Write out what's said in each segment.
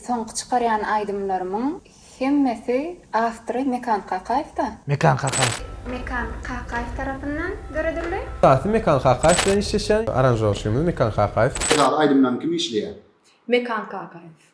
Soňky çykarýan aýdymlarymyň hemmesi awtory Mekan Kakaýew-da. Mekan Kakaýew. Mekan Kakaýew tarapyndan döredildi. Esasy Mekan Kakaýew bilen işleşen, aranžirowçimiz Mekan Kakaýew. Esasy aýdymlaryň kim işleýär? Mekan Kakaýew.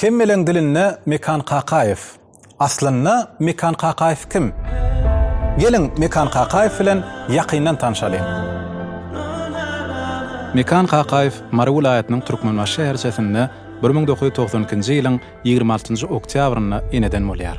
Hemmeleň dilinde Mekan Kakaýew. Aslynda Mekan Kakaýew kim? Geliň Mekan Kakaýew bilen ýakyndan tanşalyň. Mekan Kakaýew Mary welaýatynyň Türkmenbaşy şäherçesinde bir müň dokuz ýüz togsan ikinji ýylyň ýigrimi altynjy oktýabrynda eneden bolýar.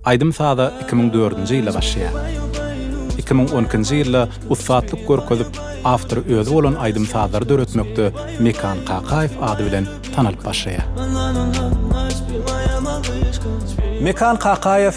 Aýdym-saza iki müň dördünji ýylda başlaýar. Iki müň on ikinji ýylda ussatlyk görkezip, awtory özi bolan aýdym-sazlary döretmekde Mekan Kakaýew ady bilen tanalyp başlaýar. Mekan Kakaýew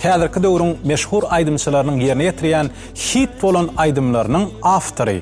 häzirki döwrüň meşhur aýdymçylarynyň ýerine ýetirýän hit bolan aýdymlarynyň awtory.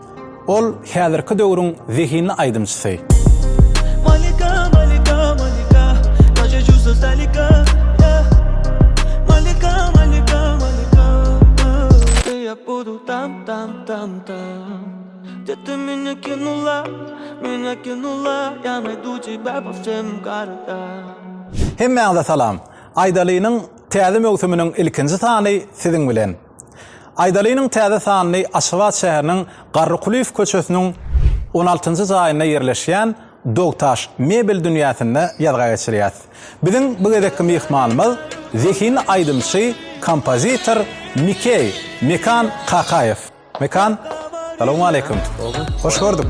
Ol häzirki döwrüň zehinli aýdymçysy. Malika malika malika Nace juzo zalika yeah Malika malika malika Ooh Ey ýap budu tam tam tam tam Dete mine kinula Mine kinula Ýane duji babo sem garda Hemmäňize salam! Aýdalynyň täze möwsüminiň ilkinji sany siziň bilen! Aýdalynyň täze sanyny Aşgabat şäheriniň Garrykulyýew köçesiniň on altynjy jaýynda ýerleşýän Dogtaş mebel dünýäsinde ýazga geçirýäs. Biziň bu gezekki myhmanymyz zehinli aýdymçy, kompozitor Mikeý, Mekan, Kakaýew. Mekan, salowmaleýkim. Hoş gördük.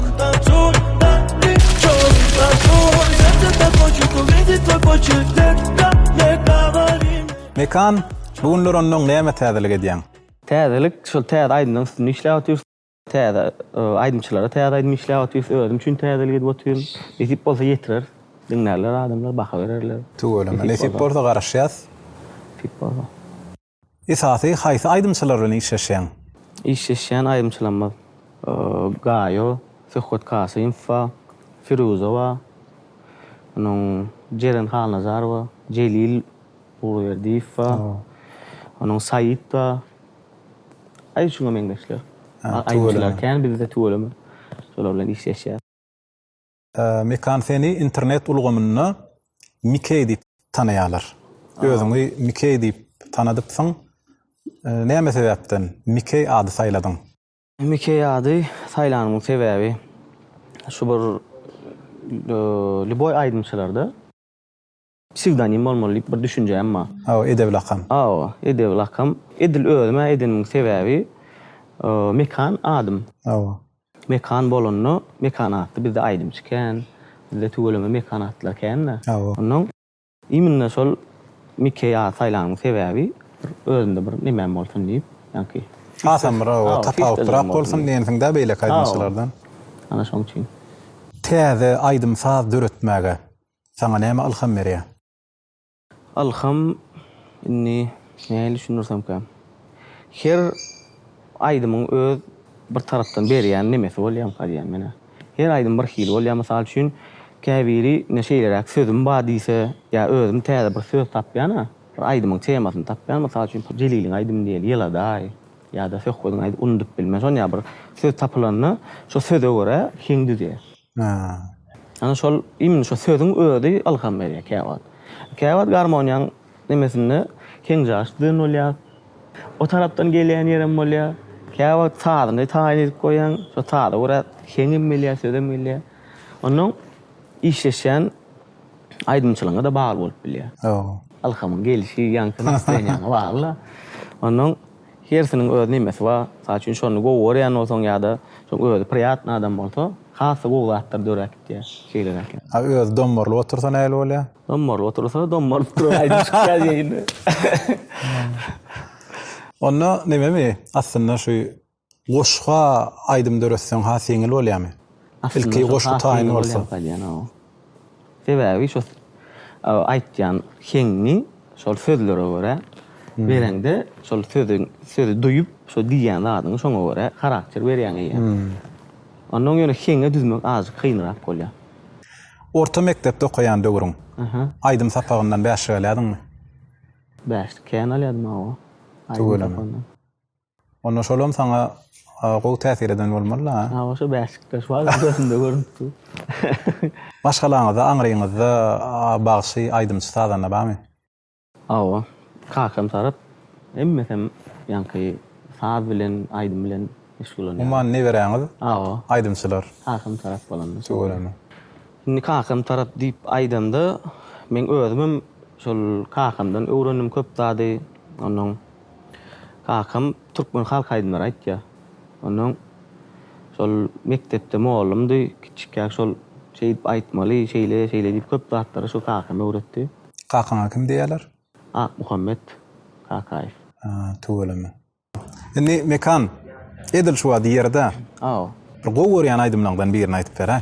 Mekan, bu günler onnoň näme täzelik edýäň? Täzelik, şol täze aýdymlaryň üstünde işläp otyrys. Täze aýdymçylara täze aýdym işläp otyrys. Özüm üçin täzelik edip otyryn. Nesip bolsa ýetireris. Diňlärler adamlar, baha bererler. Tüweleme. Nesip bolsa garaşýas. Nesip bolsa. Esasy haýsy aýdymçylar bilen işleşýäň? Işleşýän aýdymçylarymyz Gaýo, Söhbet Kasymow bar, Firuza bar, onuň Jeren Halnazarowa, Jelil. Gulberdiýew bar. Onuň Saýit bar. Aýy şuňa meňzeşler. Aýdymçylar kän bizde tüweleme. Şolar bilen işleşýäs. Mekan seni internet ulgamynda Mikeý diýip tanaýarlar. Özüňi Mikeý diýip tanadypsyň. Näme sebäpden Mikeý ady saýladyň? Mikeý ady saýlanymyň sebäbi şu bir lýuboý aýdymçylarda. Psewdonim bolmaly diýip bir düşünjäm bar. Hawa, edebi lakam. Hawa, edebi lakam. Edil özüm-ä edenimiň sebäbi Mekan adym. Hawa. Mekan bolanda, Mekan atly bizde aýdymçy kän. Bizde tüweleme Mekan atlar kän-dä. Hawa. Onnoň iminne şol Mikeý at saýlanymyň sebäbi bir özümde bir nemem bolsun diýip, ýaňky. Hasam bir, hawa, tapawutlyrak bolsun diýensiň-dä beýleki aýdymçylardan. Hawa. Ana şoň üçin. Täze aýdym-saz döretmäge Saňa näme ylham berýär? Ylham, indi nähili düşündirsemkä? Her aýdymyň öz bir tarapdan berýän nemesi bolýamyka diýýän men-ä. Her aýdym bir hili bolýar. Mysal üçin, käbiri ine şeýleräk sözüm bar diýse, ýa özüm täze bir söz tapýan-a, bir aýdymyň temasyny tapýan, mysal üçin, Jeliliň aýdymy diýeli, Ýyladaý ýa-da Söhbediň aýdymy, unudyp bilmen. Şonýa bir söz tapylanda, şo söze görä heň düzýär. Haa. Ana şol imni şo sözüň özi ylham berýär käwagt. Käwagt garmoniýaň nemesinde heňjaş dyn bolýar. O tarapdan gelýän ýerem bolýar. Käwagt sazyny taýyn edip goýýaň, şo saza görä heňem gelýär, sözem gelýär. Onnoň işleşýän aýdymçylygyňa-da bagly bolup bilýär. Ylhamyň gelişi ýaňky nastreniýaňa bagly-da. Onnoň. Hersiniň öz nemesi bar. Mysal üçin şony gowy görýän bolsaň ýa-da şoň özi priýatny adam bolsa, has-da gowy zatlar döräp gidýär. Şeýleräk ýaly. A özi dommarylyp otursa nähili bolýar? Dommarylyp otursa, dommarylyp duran aýdym çykýar ýeýne. Onda nememi aslynda şu Goşga aýdym döretseň has ýeňil bolýamy? Ilki goşgy taýyn bolsa. Sebäbi şo aýtýan heňňi şol sözlere görä bereňde şol sözüň sözi duýup şo diýýän zadyňy şoňa görä harakter berýäň eýýäm. Onda oň ýöne heňňe düzmek azajyk kynrak bolýa. Orta mekdepde okaýan döwrüň aýdym sapagyndan bäşlik alýadyňmy? Bäşlik kän alýadym hawa. Tüweleme. Onda şolam sana gowy täsir eden bolmaly ha. Ha oşo Beşiktaş bar gözünde görünip dur. Maşgalaňyzda, aňryňyzda bagşy, aýdymçy, sazanda barmy? Hawa. Kakam tarap hemmesem ýaňky saz bilen, aýdym bilen meşgullanýar. Umuman neberäňiz Hawa. aýdymçylar. Kakam tarap bolanda. Tüweleme. Indi kakam tarap diýip aýdanda, men özümem şol kakamdan öwrendim köp zady. Onuň Kakam türkmen halk aýdymlary aýtýa. Onnoň şol mekdepde mollumdy. Kiçikkäk şol şeýdip aýtmaly, şeýle, şeýle diýip köp zatlary şu kakam öwretdi. Kakaňa kim diýýäler? Akmuhammet Kakaýew. Haa, tüweleme. Indi Mekan, edil şu wagt ýerde. Aw. Bir gowy görýän aýdymlaňdan birini aýdyp beräý.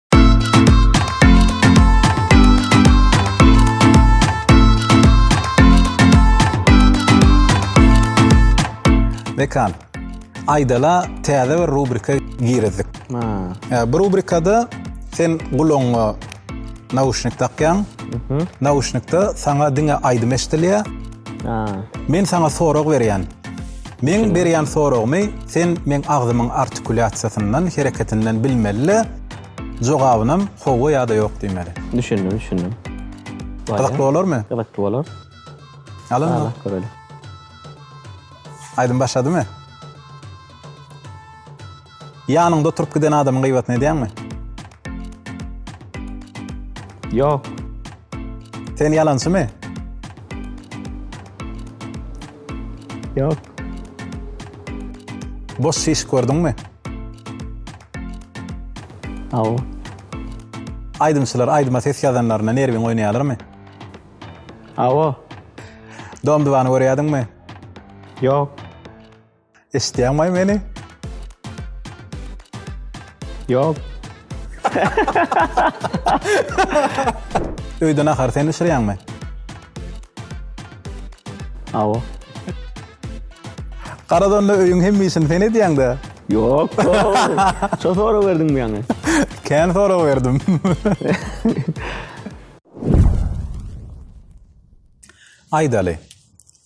Mekan. Aýdala täze bir rubrika girizdik. Ha. Bu rubrikada sen gulagyňa nauşnik takýaň. Mhm. Nauşnikde saňa diňe aýdym eşdilýär. Ha. Men saňa sorag berýän. Meň berýän soragymy sen meň agzymyň artikulýasiýasyndan, hereketinden bilmeli-de, jogabynam howwa ýa-da ýok diýmeli. Düşündim, düşündim. Gyzykly bolarmy? Gyzykly bolar. Al onda. Barlap göreli. Aýdym başladymy? Ýanyňda oturyp giden adamyň gyýbatyny edýäňmi? Ýok. Sen ýalançymy? Ýok. Boş şiş gördüňmi? Hawa. Aýdymçylar aýdyma ses ýazanlarynda nerwiň oýnaýarlarmy? Hawa. Dom-dubany görýärdiňmi? Ýok. Eşitýäňmi meni? Ýok. Öýde nahar sen bişirýäňmi? Awa. Garadonda öýüň hemme işini sen edýäň-de. Ýok. Şo sorag berdiň bu ýaňy. Kän sorag berdim. Aýdaly.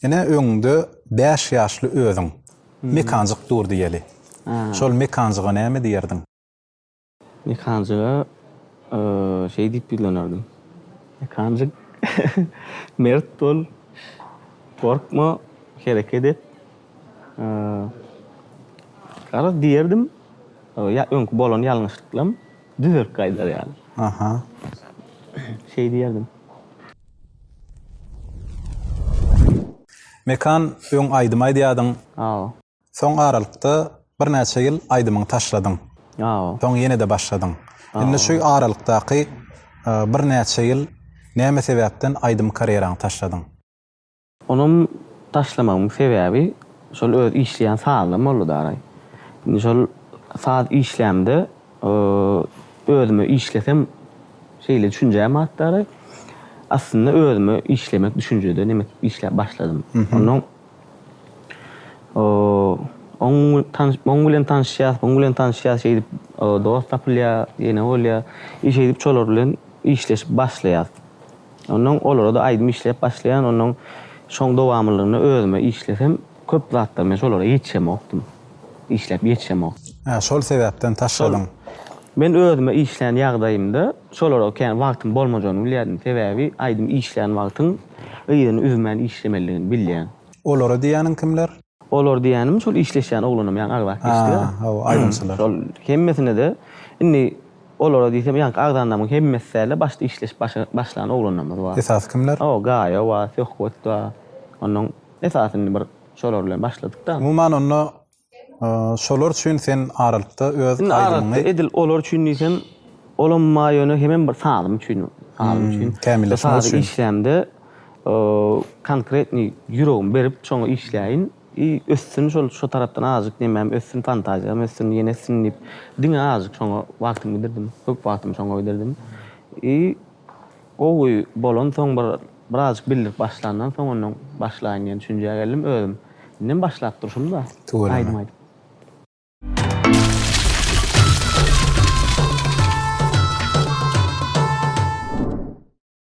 Ine öňüňde bäş ýaşly özüň. Mekanjyk dur diýeli. Şol mekanjyga näme diýerdiň? Mekanjyga şeý diýip ýüzlenerdim. Mekanjyk, mert bol, gorkma, hereket et. Garaz diýerdim, ýa öňki bolan ýalňyşlyklam. Düzerip gaýdar ýaly. Aha. Şeý diýerdim. Mekan öň aýdym aýdýadyň. Hawa. Soň aralykda birnäçe ýyl aýdymyňy taşladyň. Hawa. Soň ýene-de başladyň. Indi şu aralykdaky birnäçe ýyl näme sebäpden aýdym karýeraňy taşladyň? Onam taşlamagymyň sebäbi şol öz işleýän sazlam boldy daraý. Indi şol saz işlämde özüme işlesem şeýle düşünjäm bat daraý. Aslynda özüme işlemek düşünjede nemes işläp başladym. Ondan oň tanyş muň bilen tanyşýas, muň bilen tanyşýas şeýdip dost tapylýar, ýene bolýar. Şeýdip şolar bilen işleşip başlaýas. Ondan olara-da aýdym işläp başlaýan, ondan şoň dowamlygynda özüme işlesem, köp zatlar men şolara ýetişemokdym. Işläp ýetişemokdym. Hä, şol sebäpden taşladyň. Men özüme işlän ýagdaýymda şolara kän wagtyň bolmajagyny bilýärdim. Sebäbi aýdym işlän wagtyň yzyny üzmän işlemelidigini bilýän. Olara diýýäniň kimler? Olar diýýänim şol işleşýän oglanam ýaňy agzap geçdiler. Hä, hawa, aýdymçylar. Şol hemmesine-de indi Olara diýsem, ýaňky agzandamyň hemmesi däl-de, başda işleşip başa başlan oglanlarymyz bar. Esasy kimler? O, Gaýa bar, Söhbet bar. Onnoň esasy indi bir şolar bilen başladyk-da. Umuman onda, şolar üçin sen aralykda öz aýdymyňy. Indi aralykda edil olar üçin diýsem, olam bar, ýöne hemem bir sazym üçin, sazym üçin. Kämilleşmek üçin. Sazy işlämde, konkretnyý ýüregimi berip, şoňa işläýin. I össün şol şo tarapdan azjyk nemem össün fantaziýam össün ýene össün diýip diňe azjyk şoňa wagtymy gidirdim köp wagtymy şoňa gidirdim I gowy bolan soň bir birazjyk bildirip başlandan soň ondan başlaýyn diýen düşünjä geldim özüm indem başlap durşumda aýdym aýdyp.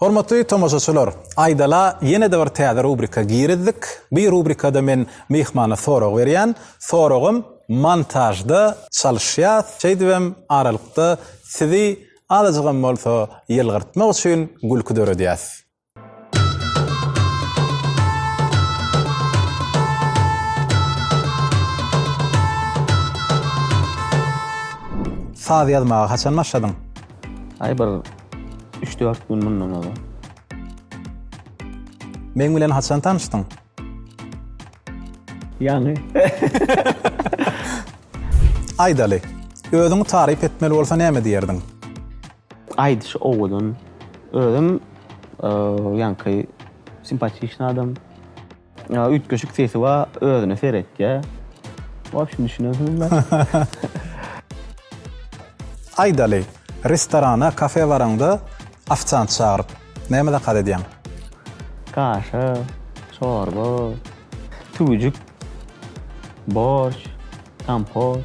Hormatly tomaşaçylar, aýdala ýene-de bir täze rubrika girizdik. Bu rubrikada men myhmana sorag berýän. Soragym montažda çalyşýas. Şeýdibem aralykda sizi azajygam bolsa ýylgyrtmak üçin gülki döredýäs. Saz ýazmaga haçan başladyň? Aý bir üç-dört gün mundan ozal. Meň bilen haçan tanyşdyň? Ýany. Aýdaly. Özüňi taryp etmeli bolsa näme diýerdiň? Aýdyş owadan. Özüm ýaňky simpatiýşny adam. Üýtgeşik sesi bar, özüne seretýär. Wobşem düşünersiňizmi? Aýdaly. Restorana, kafe baraňda ofisiant çagyryp. Näme zakaz edýäň? Kaşa, çorba, tüwüjik, borş, kompot.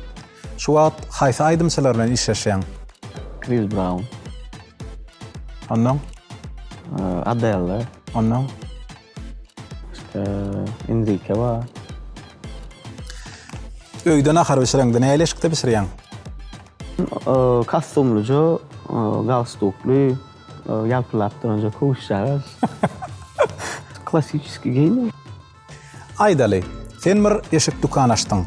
Şu wagt haýsy aýdymçylar bilen işleşýäň? Kris Braun. Onnoň? Adella. Onnoň? Başga Enrike bar. Öýde nahar bişireňde näli eşikde bişirýäň? Kostumlyja, galstukly, Ýalpylap duranja kowuşjagaz. Klassiçeskiý geýim. Aýdaly, sen bir eşik dükan açdyň.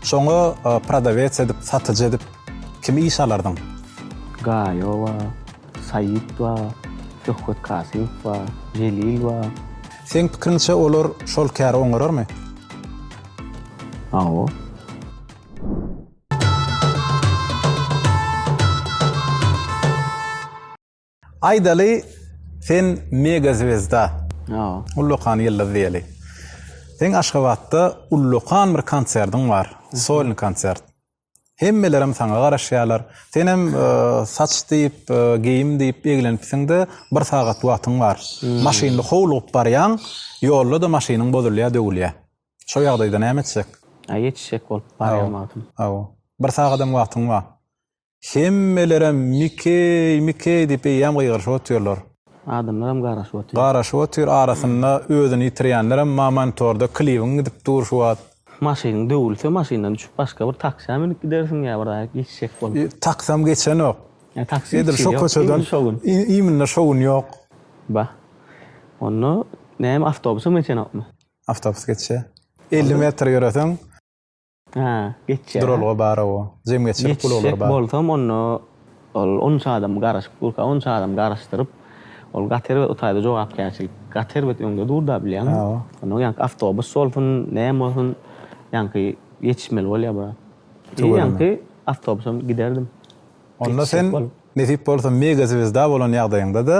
Şoňa prodawets edip, satyjy edip kimi işe alardyň? Gaýo bar, Saýit bar, Söhbet Kasymow bar, Jelil bar. Seň pikiriňçe olar şol käri oňararmy? Hawa. Aýdaly sen mega zwezda. Ýoo. Ullakan ýyldyz diýeli. Seň Aşgabatda ullakan bir konsertiň bar. Solny konsert. Hemmelerem saňa garaşýarlar. Senem saç diýip, geýim diýip eglenipsiňde bir sagat wagtyň bar. Maşynly howlugyp barýaň, ýolda-da maşynyň bozulýar, döwülýär. Şo ýagdaýda näme etjek? Aý ýetişjek bolup barýan wagtym. Hawa. Bir sagadam wagtyň bar. Hemmelerem Mikeý, Mikeý diýip eýýäm gygyryşyp otyrlar. Adamlaram garaşyp otyr. Garaşyp otyr, arasynda özüni ýitirýänlerem ma monitorda klibiň gidip dur şu wagt. Maşynyň döwülse maşyndan düşüp başga bir taksa münüp gidersiň ýa bir zaýat ýetişjek bolup. Taksam geçenok. Edil şo köçeden iýminde şo gün ýok. Bah. Onda näme awtobusam geçenokmy? Awtobus geçýä. Elli metr ýöreseň. Hä, geçýä. Duralga bar-a o. Jemgyýetçilik gulaglary bar. Geçjek bolsam, onda ol onça adam garaşyp durka, onça adam garaşdyryp, ol gaty erbet o taýda jogapkärçilik. Gaty erbet öňde dur-da, bilýäňmi? Onda ýaňky awtobus bolsun, näme bolsun, ýaňky ýetişmeli bolýar brat. Ýaňky awtobusam giderdim. Onda sen nesip bolsa mega zwezda bolan ýagdaýyňda-da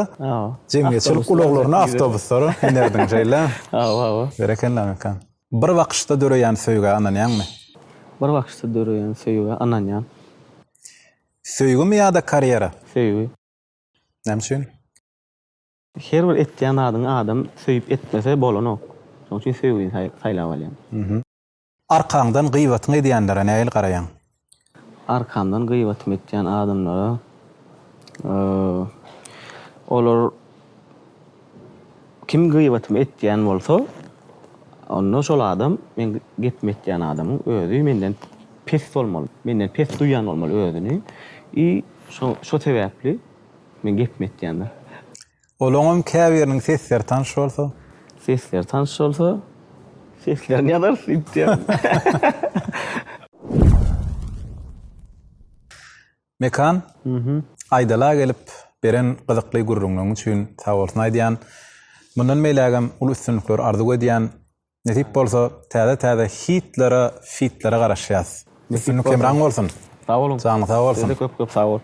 jemgyýetçilik ulaglaryna awtobuslara minerdiň şeýle? Hawa, hawa. Berekella Meka. Bir bakyşda döreýän söýgä ynanýaňmy? Bir bakyşda döreýän söýgä ynanýan. Söýgimi ýa-da karýera? Söýgi. Näme üçin? Her bir etýän zadyňy adam söýüp etmese bolanok. Şonuň üçin söýgini saýlap alýan. Arkaňdan gybatyňy edýänlere nähili garaýaň? Arkamdan gybatymy etýän adamlara olar kim gybatymy etýän bolsa, onda şol adam meň gepimi etýän adamyň özi menden pes bolmaly, menden pes duýýan bolmaly özüni i şo sebäpli meň gepimi etýändir. Olaňam käbiriniň sesleri tanyş bolsa? Sesleri tanyş bolsa, seslerini ýazarys diýipdýär. Mekan, Aýdala gelip, beren gyzykly gürrüňiň üçin sagbolsun aýdýan. Mundan beýlägem uly üstünlikler arzuw edýän. Nesip bolsa, täze-täze hitlere, fitlere garaşýas. Üstünlik hemraň bolsun! Sag boluň! Janyň sag bolsun! Siz-de köp-köp sag boluň!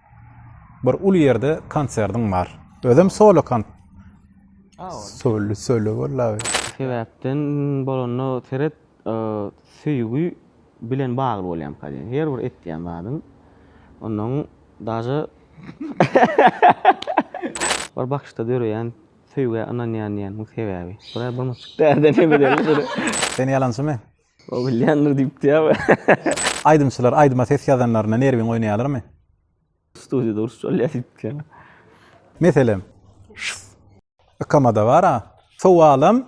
Bir uly ýerde konsertiň bar. Özem solo kont. Solo solo wallahi. Sebäpden bolanda seret söýgi bilen bagly bolýamyka diýen. Her bir etýän zadyň ondan daže bir bakyşda döreýän söýgä ynanýan diýenimiň sebäbi. Bura bir myçyk däde ne bilerin. Sen ýalançymy? O bilýändir diýipdi-ä. Aýdymçylar aýdyma ses ýazanlarynda nerwiň oýnaýarlarmy? Studiýada urşup alýar diýipdi-ä. Meselem, şs. Ykamada bar-a. Sowalym.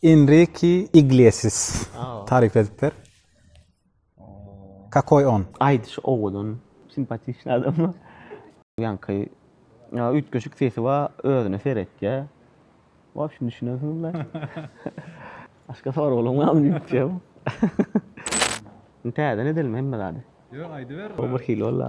Enriki Iglesias. Taryp edip ber. Kakoý on. Aýdyşy owadan, simpatiçny adam. Ýaňky üýtgeşik sesi bar, özüne seretýär. Wobşem düşünemsiňizmi? Başga soraglaň barmy diýip uçýaryn. Indi täzeden edelim hemme zady. Ýok aýdyber. Bu birhili boldy.